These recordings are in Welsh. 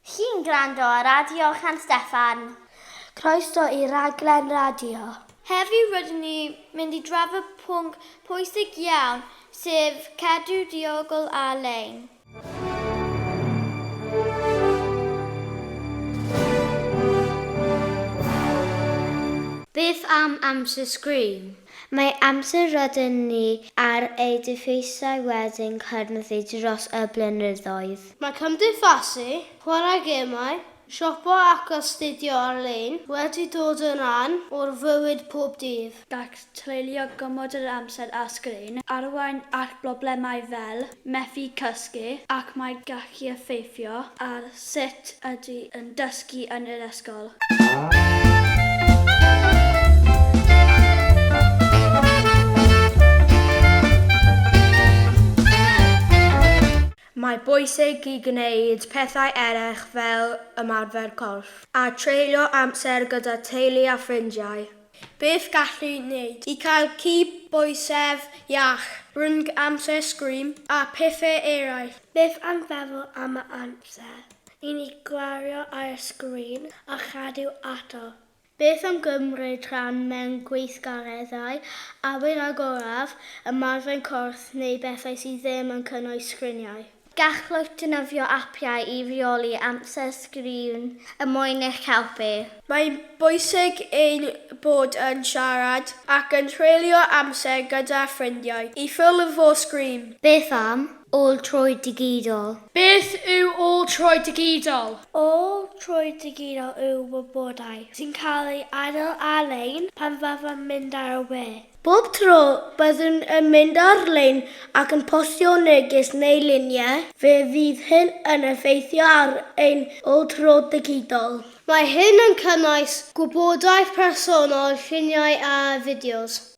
Chi'n gwrando ar Radio San Steffan. Croeso i raglen radio. Heddiw rydyn ni mynd i drafod pwnc pwysig iawn sef cadw diogel ar-lein. Beth am amser sgrin? Mae amser rydyn ni ar ei dyfeisiau wedi'n cynyddu dros y blynyddoedd. Mae cymdeithasu, chwarae gemau, Siopa ac astudio ar-lein wedi dod yn rhan o'r fywyd pob dydd. Gall treulio gormod yr amser ar sgrin arwain at broblemau fel methu cysgu ac mae'n gallu effeithio ar sut ydych yn dysgu yn yr ysgol. Mae bwysig i gwneud pethau eraill fel ymarfer corff a treulio amser gyda teulu a ffrindiau. Beth gallu wneud i gael cydbwysedd iach rhwng amser sgrin a phethau eraill? Beth am feddwl am yr amser i ni gwario ar y sgrin a chadw ato? Beth am gymryd rhan mewn gweithgareddau awyr agoraf, ymarfer corff neu bethau sydd ddim yn cynnwys sgriniau? Gallwch ddefnyddio apiau i reoli amser sgrin er mwyn eich helpu. Mae'n bwysig ein bod yn siarad ac yn treulio amser gyda ffrindiau i ffurf o sgrin. Beth am Ôl-troi digidol. Beth yw ôl-troi digidol? Ôl-troi digidol yw wybodaeth sy'n cael ei adael ar-lein pan fyddwn mynd ar y we. Bob tro byddwn yn mynd ar-lein ac yn postio neges neu luniau, fe fydd hyn yn effeithio ar ein ôl-tro digidol. Mae hyn yn cynnwys gwybodaeth personol, lluniau a fideos.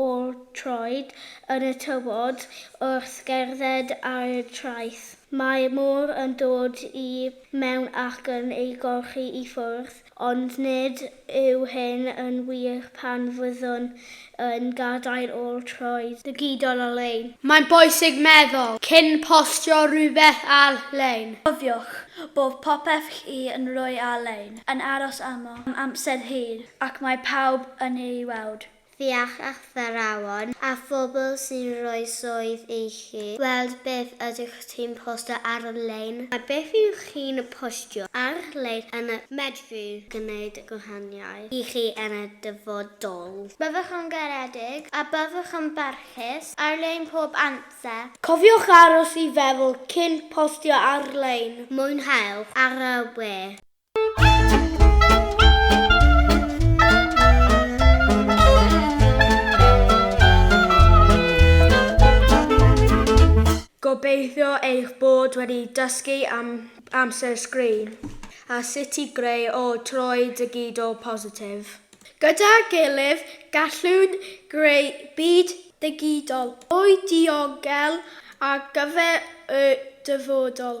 o'r troed yn y tywod wrth gerdded ar y traeth. Mae'r môr yn dod i mewn ac yn ei golchi i ffwrdd, ond nid yw hyn yn wir pan fyddwn yn gadael o'r troed. Digidol ar-lein. Mae'n bwysig meddwl cyn postio rhywbeth ar-lein. Cofiwch bod popeth chi yn rhoi ar-lein yn aros am amser hir ac mae pawb yn ei weld. ffiach athrawon a phobl sy'n rhoi swydd i chi. Gweld beth ydych chi'n postio ar-lein. A beth ydych chi'n postio ar-lein yn medru gwneud gwahaniaeth i chi yn y dyfodol. Byddwch yn garedig a byddwch yn barchus ar-lein pob amser. Cofiwch aros i feddwl cyn postio ar-lein. Mwynhewch ar y we. Gobeithio eich bod wedi dysgu am amser sgrin a sut i greu o troi digidol positif. Gyda'r gilydd, gallwn greu byd digidol mwy diogel ar gyfer y dyfodol.